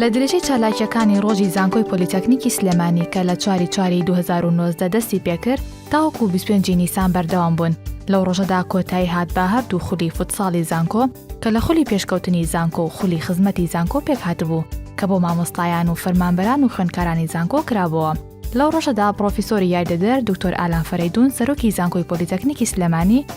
لە درێژەی چالاکیەکانی ڕۆژی زانکۆی پۆلیتەکنیکی سلێمانی کە لە چواری چواری 2019 دەستی پێکرد تاوەکو بیست و پێنج ی نیسان بەردەوام بوون، لەو ڕۆژەدا کۆتایی هات بە هەردوو خولی فوتساڵی زانکۆ کە لە خولی پێشکەوتنی زانکۆ و خولی خزمەتی زانکۆ پێکهاتبوو کە بۆ مامۆستایان و فەرمانبەران و خوێندکارانی زانکۆ کرابۆوە. لەو ڕۆژەدا پڕۆفیسۆری یاریدەدەر دکتۆر ئالان فەرەیدون سەرۆکی زانکۆی پۆلیتەکنیکی سلێمانی،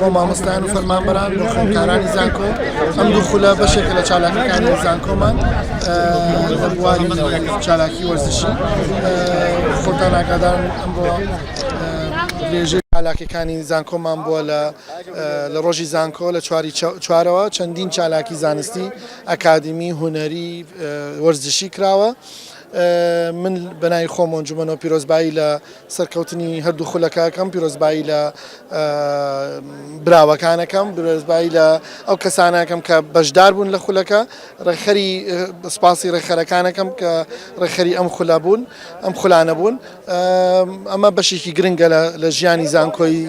بۆ مامۆستایان و فەرمانبەران بۆ خوێندکارانی زانکۆ ئەم دوو خولە بەشێکە لە چالاکەکانی زانکۆمان لە بواری چالاکی وەرزشی خۆتان ئاگادار ئەمڕۆ درێژەی چالاکەکانی زانکۆمان بووە لە لە ڕۆژی زانکۆ لە چواری چوارەوە چەندین چالاکی زانستی ئەکادمی هوەری وەرزشی کراوە. من بەنای خۆمۆنجومەەوە پیرۆزبایی لە سەرکەوتنی هەردوو خولەکەکەم پیرۆزبایی لە براوەکانەکەم برۆزبایی لە ئەو کەسانەکەم کە بەشدار بوون لە خولەکە ڕێکخەری سپاسی ڕێکخەرەکانەکەم کە ڕێکخەری ئەم خولە بوون ئەم خولانە بوون ئەمە بەشێکی گرنگە لە ژیانی زانکۆی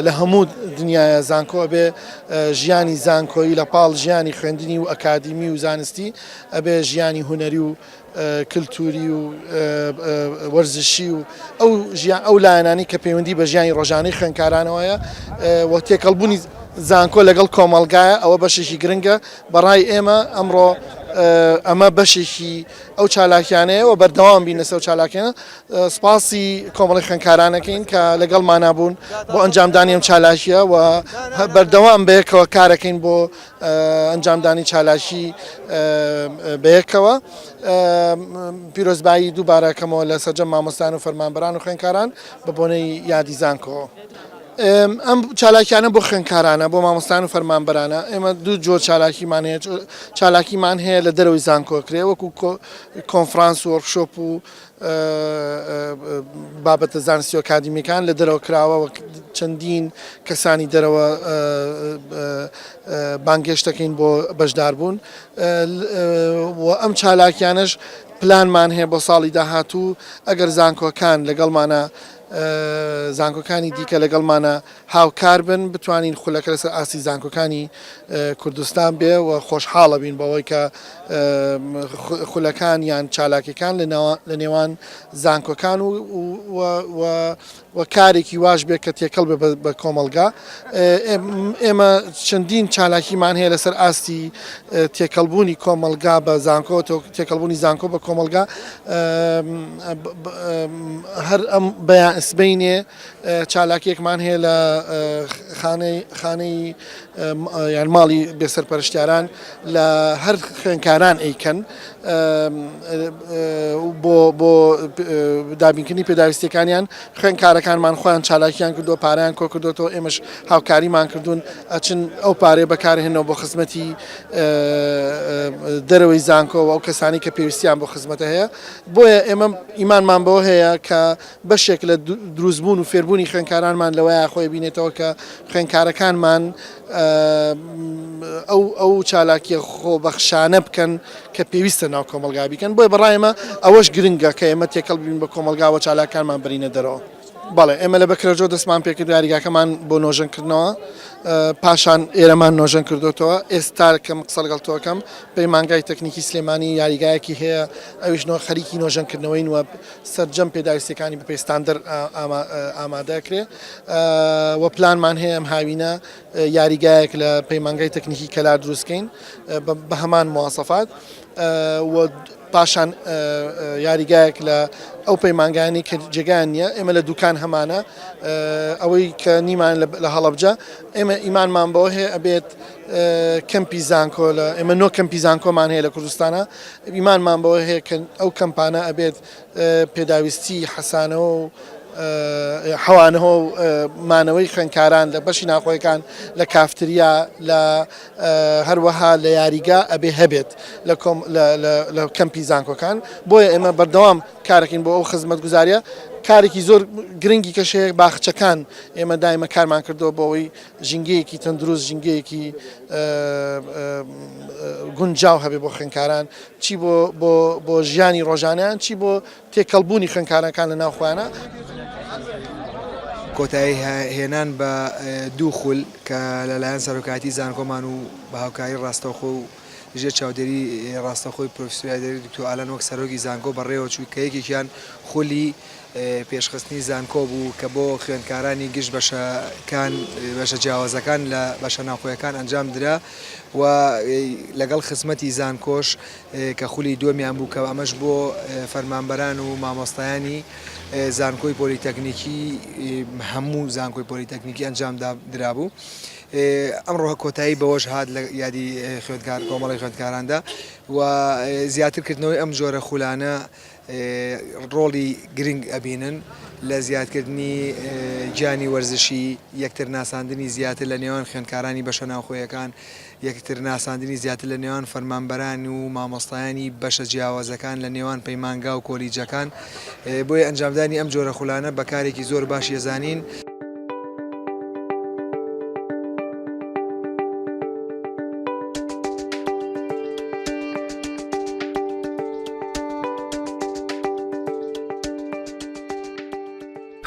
لە هەموو دنیاە زانکۆ بێ ژیانی زانکۆی لە پاڵ ژیانی خوێندنی و ئەکادیمی و زانستی ئەبێ ژیانی هوەری و کلتوری و وەرزشی و ئەو ژیان ئەو لایەنانی کە پەیوەندی بە ژیانی ڕۆژانەی خوێنکارانەوەیە و تێکەڵبوونی زانکۆ لەگەڵ کۆمەڵگایە ئەوە بەشێکی گرنگە بەڕای ئێمە ئەمڕۆ ئەمە بەشێکی ئەو چالاکیانەیە و بەردەوام بین لەسەر چالاکیانە سپاسی کۆمەڵی خوێنکارانەکەین کە لەگەڵ مانابوون بۆ ئەنجامدانی ئەم چالاکیە و بەردەوام بەیەکەوە کارەکەین بۆ ئەنجامدانی چالاکی بەیەکەوە. پیرۆزبایی دووبارە کەمەوە لە سەرجەم مامۆستایان و فەرمانبەران و خوێندکاران بە بۆنەی یادی زانکۆ. ئەم چالاکیانە بۆ خوێندکارانە، بۆ مامۆستایان و فەرمانبەرانە. ئێمە دوو جۆر چالاکیمان هەیە، چالاکیمان هەیە لە دەرەوەی زانکۆ ئەکرێ وەکو کۆنفرانس و وۆرکشۆپ و بابەتە زانستی و ئەکادیمیەکان لە دەرەوە کراوە و چەندین کەسانی دەرەوە بانگێشتەکەین بۆ بەشداربوون و ئەم چالاکیانش پلانمان هەیە بۆ ساڵی داهاتوو ئەگەر زانکۆکان لەگەڵمانە زانکۆکانی دیکە لەگەڵمانە هاوکار بن بتوانین خولەکە لەسەر ئاستی زانکۆکانی کوردستان بێ و خۆشحاڵەبین بەوەی کە خولەکان یان چالاکەکان لە نێوان زانکۆکان و کارێکی واش بێ کە تێکەڵ بێ بە کۆمەلگا ئێمە چەندین چالاکیمان هەیە لەسەر ئاستی تێکەڵبوونی کۆمەلگا بە زانکۆ تێکەڵبوونی زانکۆ بە کۆمەلگا هەر ئەم بەیان ئەسبینێ چالاکیەکمان هەیە لە خانەی خانەی یان ماڵی بێسەرپەرشتیاران لە هەر خوێنکاران ئەیکەن بۆ بۆ دابینکردنی پێداویستەکانیان خوێنکارەکانمان خۆیان چالاکیان کردو پاریان کۆ کردوەوە ئێمەش هاوکاریمان کردوون ئەچن ئەو پارێ بەکارهێنەوە بۆ خزمەتی دەرەوەی زانکۆەوە ئەو کەسانی کە پێویستیان بۆ خزمەتە هەیە بۆیە ئێمە ئیمانمان بەوە هەیە کە بەشێک لە دروستبوون و فێربوونی خوێندکارانمان لەوەیە خۆی بینێتەوە کە خوێندکارەکانمان ئەو ئەو چالاکیە خۆبەخشانە بکەن کە پێویستە ناو کۆمەلگا بیکەن بۆی بەڕایمە ئەوەش گرنگە کە ئێمە تێکەڵ بین بە کۆمەلگاوە چالاکانمان برینە دەرەوە. بەڵێ ئێمە لە بەکرەجۆ دەستمان پێکرد یاریگاکەمان بۆ نۆژەن کردنەوە پاشان ئێرەمان نۆژەن کردوتەوە ئێستا کەم قسە لەگەڵ تۆکەم پەیمانگای تەکنیکی سلێمانی یاریگایەکی هەیە ئەویش نۆ خەریکی نۆژەنکردنەوەین وە سەرجەم پێداویستیەکانی بەپێی ستاندەر ئامادەکرێ و پلانمان هەیە ئەم هاوینە یاریگایەک لە پەیمانگای تەکنیکی کەلار دروستکەین بە هەمان موواسەفات پاشان یاریگایەک لە ئەو پەیمانگانی کە جێگان نییە ئێمە لە دوکان هەمانە ئەوەی کە نیمان لە هەڵبجە ئێمە ئیمانمان بەوە هەیە ئەبێت کەمپی زانکۆ لە ئێمە نۆ کەمپی زانکۆمان هەیە لە کوردستانە ئیمانمان بەوە هەیە کە ئەو کەمپانە ئەبێت پێداویستی حەسانەوە و حەوانەوە و مانەوەی خوێنکاران لە بەشی ناخۆیەکان لە کافتریا لە هەروەها لە یاریگا ئەبێ هەبێت لە کەمپی زانکۆکان بۆیە ئێمە بەردەوام کارەکەین بۆ ئەو خزمەت گوزاریە کارێکی زۆر گرنگی کەشەیە باخچەکان ئێمە دایمە کارمان کردو بۆەوەی ژینگەیەکی تەندروست، ژینگەیەکی گونجاو هەبێ بۆ خوێندکاران، چی بۆ ژیانی ڕۆژانەیان، چی بۆ تێکەڵبوونی خوێندکارانەکان لە ناو خۆیانە. کۆتایی هێنان بە دوو خول کە لەلایەن سەرۆکایەتی زانکۆمان و بە هاوکاری ڕاستەوخۆ و ژێر چاودێری ڕاستەوخۆی پرۆفیسوریادێری دکتۆ ئالان وەک سەرۆکی زانکۆ بەڕێوەچوو کە یەکێکیان خولی پێشخستنی زانکۆ بوو کە بۆ خوێندکارانی گشت بەشەکان بەشە جیاوازەکان لە بەشە ناوخۆیەکان ئەنجام درا و لەگەڵ خزمەتی زانکۆش کە خولی دووەمیان بوو کە ئەمەش بۆ فەرمانبەران و مامۆستایانی زانکۆی پۆلیتەکنیکی هەموو زانکۆی پۆلیتەکنیکی ئەنجام درابوو ئەمڕۆ کۆتایی بەوەش هات لە یادی خوێندکار کۆمەڵی خوێندکاراندا و زیاتر کردنەوەی ئەم جۆرە خولانە ڕۆڵی گرنگ ئەبینن لە زیادکردنی گیانی وەرزشی، یەکتر ناساندنی زیاتر لە نێوان خوێندکارانی بەشە ناوخۆیەکان، یەکتر ناساندنی زیاتر لە نێوان فەرمانبەران و مامۆستایانی بەشە جیاوازەکان لە نێوان پەیمانگا و کۆلیجەکان، بۆیە ئەنجامدانی ئەم جۆرە خولانە بە کارێکی زۆر باش یەزانین.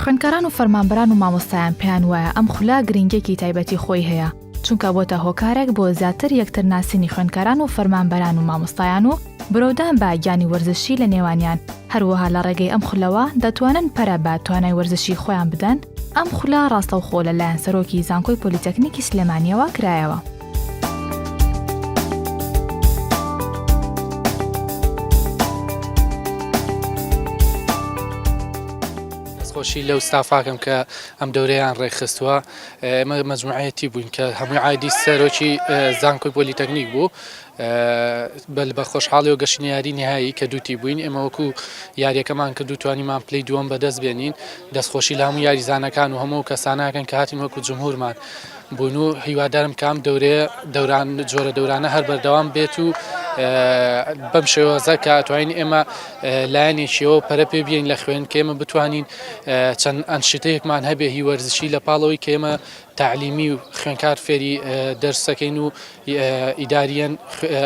خوێندکاران و فەرمانبەران و مامۆستایان پێیان وایە ئەم خولا گرنگیەکی تایبەتی خۆی هەیە، چونکە بۆتە هۆکارێک بۆ زیاتر یەکتر ناسینی خوێندکاران و فەرمانبەران و مامۆستایان و برەودان بە گیانی وەرزشی لە نێوانیان، هەروەها لە ڕێگەی ئەم خولەوە دەتوانن پەرە بە توانای وەرزشی خۆیان بدەن، ئەم خولە ڕاستەوخۆ لە لایەن سەرۆکی زانکۆی پۆلیتەکنیکی سلێمانیەوە کرایەوە. دەستخۆشی لەو ستافاکەم کە ئەم دەورەیان ڕێکخستووە. ئێمە مەجموعەیەتی بووین کە هەمووی عایدی سەرۆکی زانکۆی پۆلیتەکنیک بوو بەل بە خۆشحاڵی و گەشتنی یاری نهایی کە دووتی بووین ئێمە وەکو یاریەکەمان کرد و توانیمان پلی دووەم بەدەست بێنین دەستخۆشی لە هەموو یاریزانەکان و هەموو کەسانەکەن کە هاتین وەکو جمهورمان بوون و هیوادارم کام دەورێ دەوران جۆرە دەورانە هەر بەردەوام بێت و بەم شێوەزە کە توانین ئێمە لایەنێکیەوە پەرە پێ بێین لە خوێن کە ئێمە بتوانین چەند ئەنشتەیەکمان هەبێ هی وەرزشی لە پاڵەوەی کە ئێمە تعلیمی و خوێنکار فێری دەرسەکەین و ئیداریەن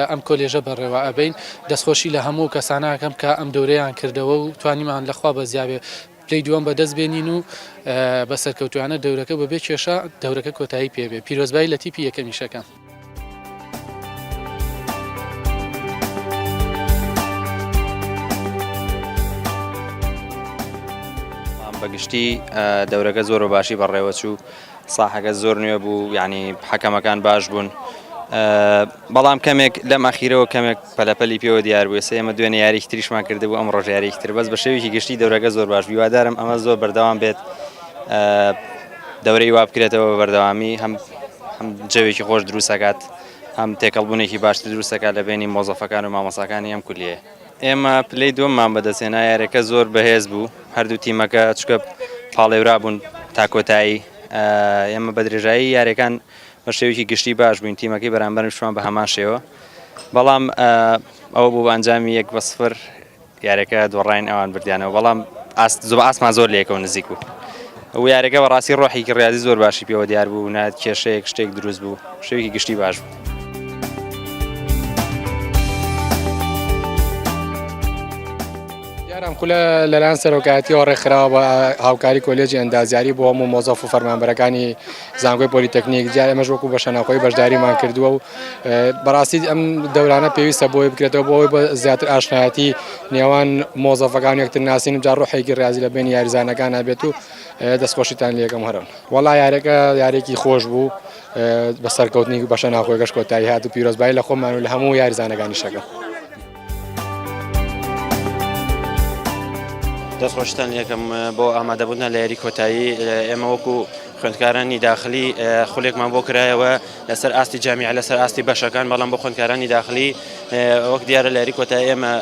ئەم کۆلێژە بەڕێوە ئەبین دەستخۆشی لە هەموو کەسانەکەم کە ئەم دەورەیان کردەوە و توانیمان لەخوا بەزیاێ پلی دووەم بەدەست بێنین و بە سەرکەوتوانە دەورەکە بەبێ کێشە دەورەکە کۆتایی پێبێ پیرۆزبایی لە تیپی یەکەمیشەکەم. بە گشتی دەورەکە زۆر بە باشی بەڕێوەچوو ساحەکە زۆر نوێ بوو یعنی حەکەمەکان باش بوون بەڵام کەمێک لەم ئەخیرەوە کەمێک پەلەپەلی پێوە دیار بوو سێمە دوێنێ یاریی تریشمان کردبوو ئەم ڕۆژیاریی تر بەس بە شێویی گشتی دەورەکە زۆر باش هیوادارم ئەمە زۆر بەردەوام بێت دەورەی وا بکرێتەوە بە بەردەوامی هەم هەم جەوێکی خۆش دروست دەکات هەم تێکەڵبوونێکی باشتر دروست دەکات لە بینی مۆزەفەکان و مامۆساکانی ئەم کولیە ئێمە پلەی دووەممان بەدەستێنا یارەکە زۆر بەهێز بوو هەردوو تیمەکە چکە پاڵێورا بوون تا کۆتایی ئێمە بە درێژایی یارەکان بە شێوکی گشتی باش بووین تیمەکەی بەرامبەرمشمان بە هەمان شێوە بەڵام ئەوە بوو بە ئەنجامی یەک بە سفر یارەکە دۆڕاین ئەوان بردیانەوە بەڵام ئاست زۆر ئاسمان زۆر لەیەکەوە نزیک بوو و یارەکە بەڕاستی ڕۆحێکی ڕیاضی زۆر باشی پێوە دیار بوو نە کێشەیەک شتێک دروست بوو شەوێکی گشتی باش بوو. یاران خولە لەلایەن سەرۆکایەتیەوە ڕێکخراوە بە هاوکاری کۆلێجی ئەندازیاری بۆ هەموو مۆزەف و فەرمانبەرەکانی زانکۆی پۆلیتەکنیک جا ئێمەش وەکو بەشە ناوخۆی بەشداریمان کردووە و بەڕاستی ئەم دەورانە پێویستە بۆی بکرێتەوە بۆی بە زیاتر ئاشنایەتی نێوان مۆزەفەکان یەکتر ناسین و جا ڕۆحێکی ڕازی لە بین یاریزانەکان نابێت و دەستخۆشیتان لەکەم هەرن وەڵا یارەکە یارێکی خۆش بوو بە سەرکەوتنی بەشە ناوخۆی گەشت کۆتایی هات و پیرۆزبایی لە خۆمان و لە هەموو یاریزانەکانی شەکە. دەست خۆشتان یەکەم بۆ ئامادەبوونا لە یاری کۆتایی ئێمە وەکو خوێندکارانی داخلی خولێکمان بۆ کرایەوە لەسەر ئاستی جامیع لەسەر ئاستی بەشەکان بەڵام بۆ خوندکارانی داخلی وەک دیارە لاری کۆتا ئێمە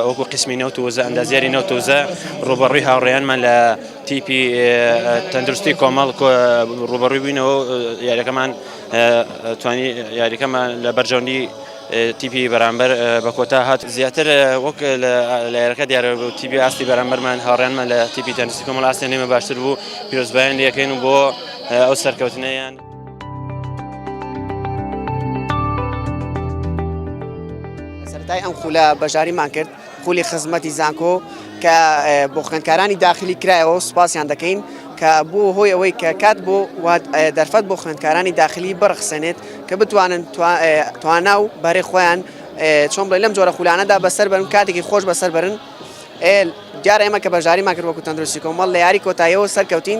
وەکو قسمی نەوت وزە ئەندازیاری نەوتوزە ڕوبەڕوی هاوڕێیانمان لە تیپی تەندروستی کۆمەڵ ڕوبەڕوی بووینەوە یاریەکەمان توانی یاریەکەمان لە بەرژەوندی تیپی بەرامبەر بە کۆتا هات زیاتر وەک لە لایەکە دیارە بۆ تیپی ئاستی بەرامبەرمان هاوڕێنمان لە تیپی تەنسی کۆمەڵ ئاستی نێمە باشتر بوو پیرۆزبایان لەکەین و بۆ ئەو سەرکەوتنیان. سەرای ئەم خولە بەشداریمان کرد خولی خزمەتی زانکۆ کە بۆ خوێندکارانی داخلی کرایەوە سوپاسیان دەکەین کە بۆ هۆی ئەوەی کە کات بۆ دەرفەت بۆ خوێندکارانی داخلی بڕخسێنێت کە بتوانن توانا و بەرێ خۆیان چۆن بڵێ لەم جۆرە خولانەدا بەسەر بەرن کاتێکی خۆش بەسەر برن دیارە ئێمە کە بەژاری ماکرد وەکو تەندروستی کۆمەڵ لە یاری کۆتاییەوە سەرکەوتین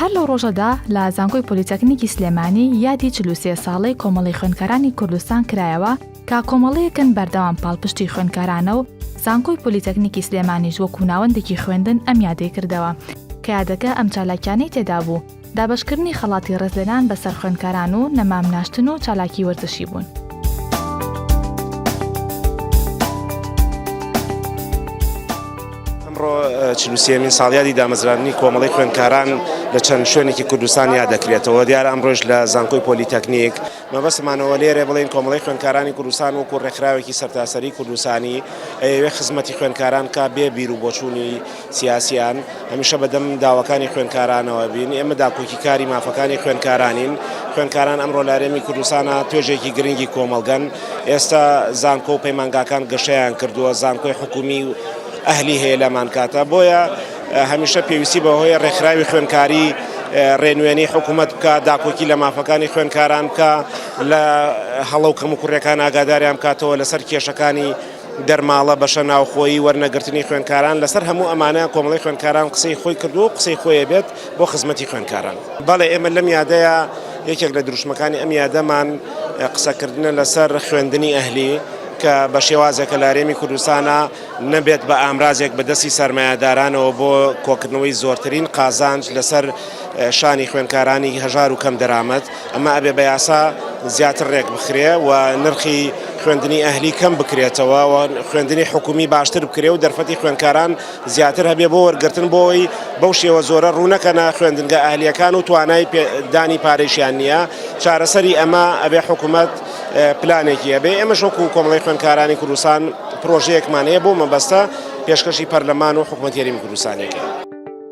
هەر لەو ڕۆژەدا لە زانکۆی پۆلیتەکنیکی سلێمانی یادی چل و سێ ساڵەی کۆمەڵی خوێندکارانی کوردستان کرایەوە کە کۆمەڵەیەکن بەردەوام پاڵپشتی خوێندکارانە و زانکۆی پۆلیتەکنیکی سلێمانیش وەکو ناوەندێکی خوێندن ئەم یادەی کردەوە کە یادەکە ئەم چالاکیانەی تێدا بوو دابەشکردنی خەڵاتی ڕێزلێنان بەسەر خوێندکاران و نەمام ناشتن و چالاکی وەرزشی بوون. ئەمڕۆ چلوسیەمین ساڵیادی دامەزراندنی کۆمەڵی خوێندکاران لە چەند شوێنێکی کوردستان یا دەکرێتەوە دیار ئەمڕۆژ لە زانکۆی پۆلیتەکنیک مەبەسمانەوە لێرە بڵین کۆمەڵی خوێندکارانی کوردستان وەکو ڕێکخراوێکی سەرتاسەری کوردستانی ئەوێ خزمەتی خوێندکاران کا بێ بیر و بۆچوونی سیاسیان هەمیشە بەدەم داواکانی خوێندکارانەوە بین، ئێمە داکۆکیکاری مافەکانی خوێندکارانین، خوێندکاران ئەمڕۆ لارێمی کوردستانە توێژێکی گرنگی کۆمەڵگەن، ئێستا زانکۆ و پەیمانگاکان گەشەیان کردووە، زانکۆی حکومی و ئەهلی هەیە لامان کاتە، بۆیە هەمیشە پێویستی بەوەیە رێکخراوی خوێندکاری رێنوێنی حکومەت بکا، داکۆکی لە مافەکانی خوێندکاران بکا، لە هەڵە و کەموکوڕیەکان ئاگاداریان بکاتەوە، لەسەر کێشەکانی. دەرماڵە، بەشە ناوخۆیی، وەرنەگرتنی خوێندکاران، لەسەر هەموو ئەمانە کۆمەڵەی خوێندکاران قسەی خۆی کردووە و قسەی خۆی ئەبێت بۆ خزمەتی خوێندکاران. بەڵێ ئێمە لەم یادەیە یەکێک لە دروشمەکانی ئەم یادەمان قسەکردنە لەسەر خوێندنی ئەهلی کە بە شێوازێک کە لە هەرێمی کوردستانا نەبێت بە ئامرازێک بە دەستی سەرمایەدارانەوە بۆ کۆکردنەوەی زۆرترین قازانج لەسەر شانی خوێندکارانی هەژار و کەم دەرامەت. ئەمە ئەبێ بە یاسا زیاتر ڕێک بخرێ و نرخی خوێندنی ئەهلی کەم بکرێتەوە و خوێندنی حکومی باشتر بکرێ و دەرفەتی خوێندکاران زیاتر هەبێ بۆ وەرگرتن بۆی بەو شێوە زۆرە ڕوونەکەنا خوێندنگە ئەهلیەکان و توانای دانی پارێشیان نییە چارەسەری ئەمە ئەبێ حکوومەت پلانێکی ئەبێ ئەمە شۆک و کۆمەڵی خوێندکارانی کوردستان پرۆژەیەکمان هەیە بۆ مەبەستە پێشکەشی پەرلەمان و حکوومەتێری کوردستانێکە.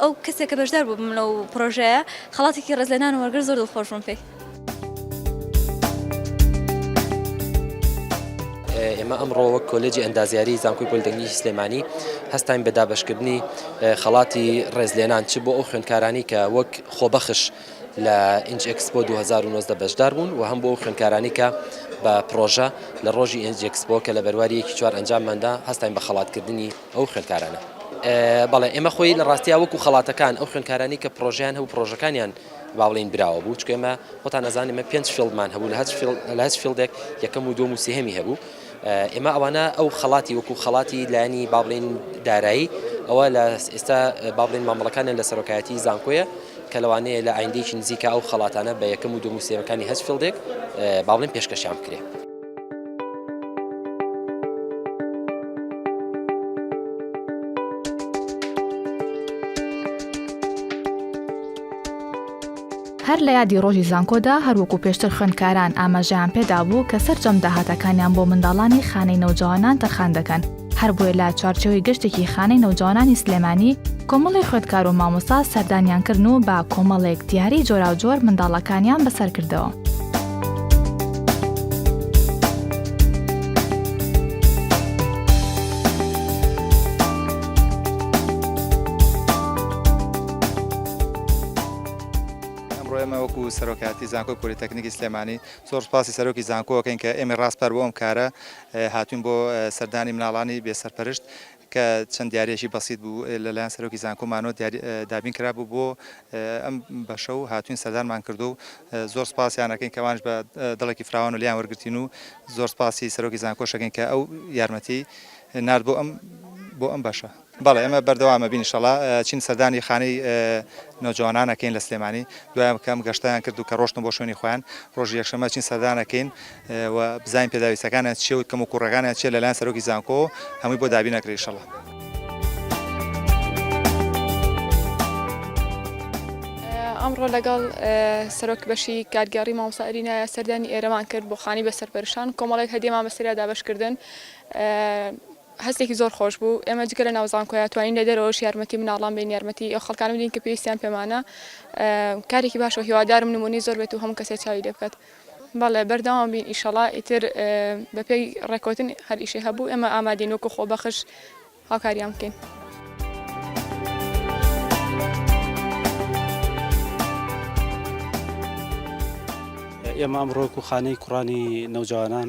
ئەو کەسێک کە بەشدار بوو بم لەو پرۆژەیە خەڵاتێکی ڕێزلێنان وەرگر زۆر دڵخۆش بووم پێی. ئێمە ئەمڕۆ وەک کۆلێجی ئەندازیاری زانکۆی پۆلیتەکنیکی سلێمانی هەستاین بە دابەشکردنی خەڵاتی ڕێزلێنان چ بۆ ئەو خوێندکارانی کە وەک خۆبەخش لە ئینج ئەکسپۆ 2019 بەشدار بوون و هەم بۆ ئەو خوێندکارانی کە بە پڕۆژە لە ڕۆژی ئینج ئەکسپۆ کە لە بەرواری یەکی چوار ئەنجامماندا هەستاین بە خەڵاتکردنی ئەو خوێندکارانە. بەڵێ ئێمە خۆی لە ڕاستیا وەکو خەڵاتەکان ئەو خوێندکارانی کە پڕۆژەیان هەبوو پڕۆژەکانیان با بڵێین براوە بوو چکە ئێمە خۆتان ئەزان ئێمە پێنج فیڵدمان هەبوو لە هەچ لە هەچ فیلدێک یەکەم و دوم و سێهەمی هەبوو ئێمە ئەوانە ئەو خەڵاتی وەکو خەڵاتی لایانی با بڵێین دارایی ئەوە لە ئێستا با بڵێین مامەڵەکانیان لە سەرۆکایەتی زانکۆیە کە لەوانەیە لە ئایندێکی نزیکە ئەو خەڵاتانە بە یەکەم و دوم و سێمەکانی هەچ فیلدێک با بڵێین پێشکەشیان بکرێت. هەر لە یادی ڕۆژی زانکۆدا هەروەکو پێشتر خوێندکاران ئاماژەیان پێدا بوو کە سەرجەم داهاتەکانیان بۆ منداڵانی خانەی نەوجوانان تەرخان دەکەن هەربۆیە لە چوارچێوەی گەشتێکی خانەی نەوجەوانانی سلێمانی کۆمەڵی خوێندکار و مامۆستا سەردانیان کردن و بە کۆمەڵێک دیاری جۆراوجۆر منداڵەکانیان بەسەر کردەوە. وەکو سەرۆکاتی زانکۆی پۆلیتەکنیکی سلێمانی زۆر سپاسی سەرۆکی زانکۆەکەین کە ئێمە ڕاستپار بۆ ئەم کارە هاتووین بۆ سەردانی مناڵانی بێ سەرپەرشت کە چەند دیاریەکی بەسیت بوو لە لایەن سەرۆکی زانکۆ مانۆ دابین کرابوو بۆ ئەم بەشە و هاتووین سەردانمان کردو و زۆر سپاسیانەکەین کەوانش بە دڵێکی فراوان و لیان وەرگتین و زۆر سپاسی سەرۆکی زانکۆشەکەین کە ئەو یارمەتی نرد بۆ ئەم بۆ ئەم بەشە. بەڵێ ئێمە بەردەوام ئەبین ئیشەڵا چین سەردانی خانەی نۆجوانان ئەکەین لە سلێمانی دوایان کەم گەشتیان کرد و کە ڕۆشتن بۆ شوێنی خۆیان ڕۆژی یەکشەمە چین سەردان ئەکەین و بزانین پێداویستەکانیان چیە و کەم و کوڕەکانیان چیە لەلایەن سەرۆکی زانکۆ هەمووی بۆ دابین ئەکرێ ئیشەڵا ئەمڕۆ لەگەڵ سەرۆک بەشی کارگەڕی مامۆستا ئەرینایە سەردانی ئێرەمان کرد بۆ خانی بە سەرپەرشان کۆمەڵێک هەدیێمان بەسریا دابشکردن هەستێکی زۆر خۆش بوو ئێمە جگە لە ناو زانکۆیە توانین لە دەرەوەش یارمەتی مناڵان بین یارمەتی ئەو خەڵکانە بدین کە پێویستیان پێمانە کارێکی باشەوە هیوادارم نمونی زۆر بێت و هەموو کەسێ چاوی لێ بکات بەڵێ بەردەوام بین ئیشەڵا ئیتر بەپێی ڕێکوتن هەریشی هەبوو ئێمە ئامادەین وەکو خۆ بەخش هاوکاریان بکەین. ئێمە ئەمڕۆک و خانەی کوڕانی نەوجوانان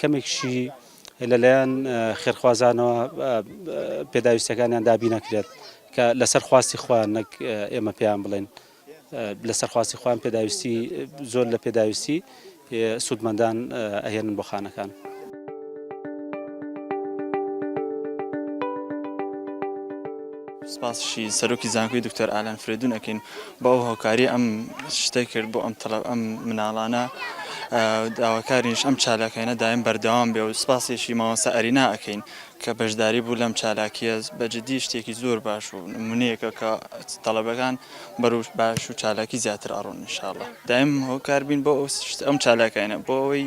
کەمێکیشی لەلایەن خێرخوازانەوە پێداویستیەکانیان دابی نەکرێت کە لەسەر خواستی خۆیان نەک ئێمە پێیان بڵێن لەسەر خواستی خۆیان پێداویستی زۆر لە پێداویستی سوودمەندان ئەهێنن بۆ خانەکان. سپاسشی سەرۆکی زانکۆی دکتۆر ئالان فرێدون ئەەکەین بەو هۆکاری ئەم شتەی کرد بۆ ئەم تەڵەب ئەم مناڵانە داواکارینش ئەم چالاکەینە دایم بەردەوام بێ و سپاسیشی مامۆستا ئەرینا ئەکەین کە بەشداری بوو لەم چالاکیە بەجددی شتێکی زۆر باش و نمونەیەکە کە تەڵەبەکان بەرو باش و چالاکی زیاتر ئەڕۆن انشاءاللە دایم هۆکار بین بۆ ئەو شت ئەم چالاکەینە بۆ ئەوەی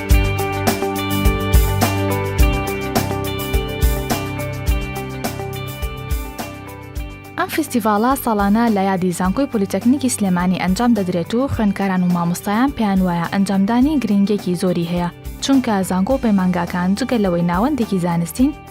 ئەم فیستیڤاڵە ساڵانە لە یادی زانکۆی پلیتەکنیکی سلێمانی ئەنجام دەدرێت و خوێندکاران و مامۆستایان پێیان وایە ئەنجامدانی گرنگێکی زۆری هەیە چونکە زانکۆ پەیمانگاکان جگە لەوەی ناوەندێکی زانستین